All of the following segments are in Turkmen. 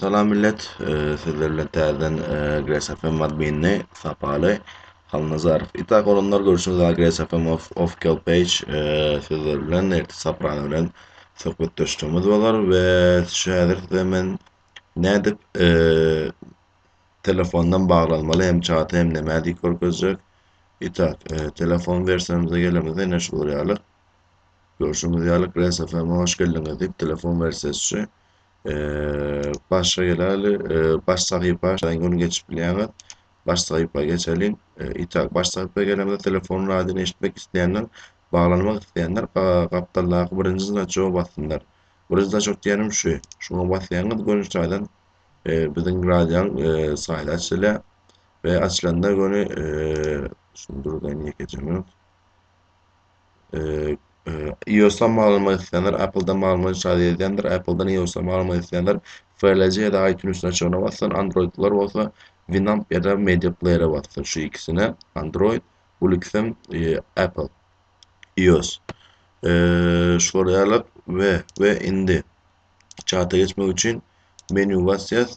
Salam millet, sizler bilen täzeden Gresafem adminini sapaly Halnazarow. Itak olanlar görüşüňiz aga Gresafem of official page sizler bilen erti saprany bilen söhbetdeşligimiz bolar we şu häzir size men nädip telefondan baglanmaly hem çat hem näme diýip görkezjek. Itak telefon versiýamyza gelemizde ne şu ýaly. Görşüňiz ýaly Glass FM-e hoş geldiňiz diýip telefon wersiýasy başa geleli baş sahypa gün geçip bilýäňiz. Baş sahypa geçeliň. Itak baş sahypa gelemizde telefon radyny eşitmek isleýänler baglanmak isleýänler gapdaldaky birinji znaçoga bassynlar. Birinji znaçok diýenim şu. Şuňa basýaňyz göni taýdan biziň radionyň saýty açylýar we açylanda göni şuny durduraýyn ýekeje minut. Eee, iOS-dan mal almak isleýänler, Apple-dan mal almak ýaly edýänler, Apple-dan iOS-a mal almak isleýänler FLC ýa-da iTunes-iň açygyna bassyn, Android-lylar bolsa Winamp ýa-da Media Player-e bassyn. Şu ikisine, Android, Ulixem, eee, Apple, iOS. Eee, şular ýaly we, we indi çata geçmek üçin menýu basýas.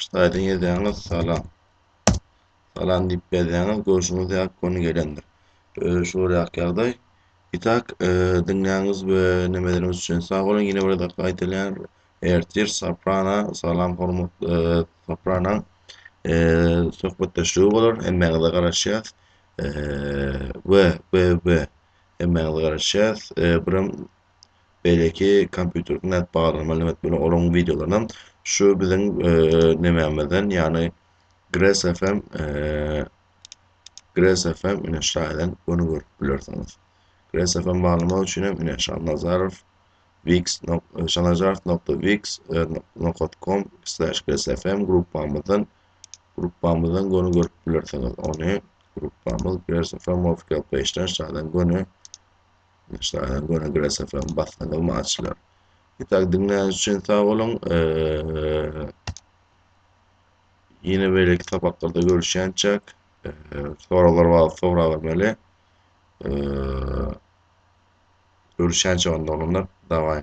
Ştaýdan ýazýaňyz salam. Salam diýip berýäňiz, görşüňiz ýaly göni gelendir. Özi şu bir ýaky ýagdaý. Itak e, diňläňiz we nemeleriniz üçin sag boluň. Ýene bir dakika gaýtalýan. Ertir Soprana, salam hormat e, Soprana. E, söhbetdeşligi bolar. Hemmäňize garaşýas. E, we we we hemmäňize garaşýas. E, birem Beýleki kompýuter nädip baglamaly näme etmeli olaryň wideolaryny şu biziň nemämizden ýagny Gres FM Gres FM ine şaýdan göni görüp bilersiňiz. Gres FM baglamak üçin hem ine Şannazarow Wix şannazarow.wix.com slash Gres FM gruppamyzdan gruppamyzdan göni görüp bilersiňiz. Ony gruppamyz Gres FM official page-den şaýdan göni Başlanyň göni grasaflaryň basmadygy maçlar. Ýeterlik diňläniş üçin sag boluň. Ýene beýleki sapaklarda görüşýänçäk. Soraglar bar, sorag bermeli. Görüşýänçäk onda olanlar. Daway.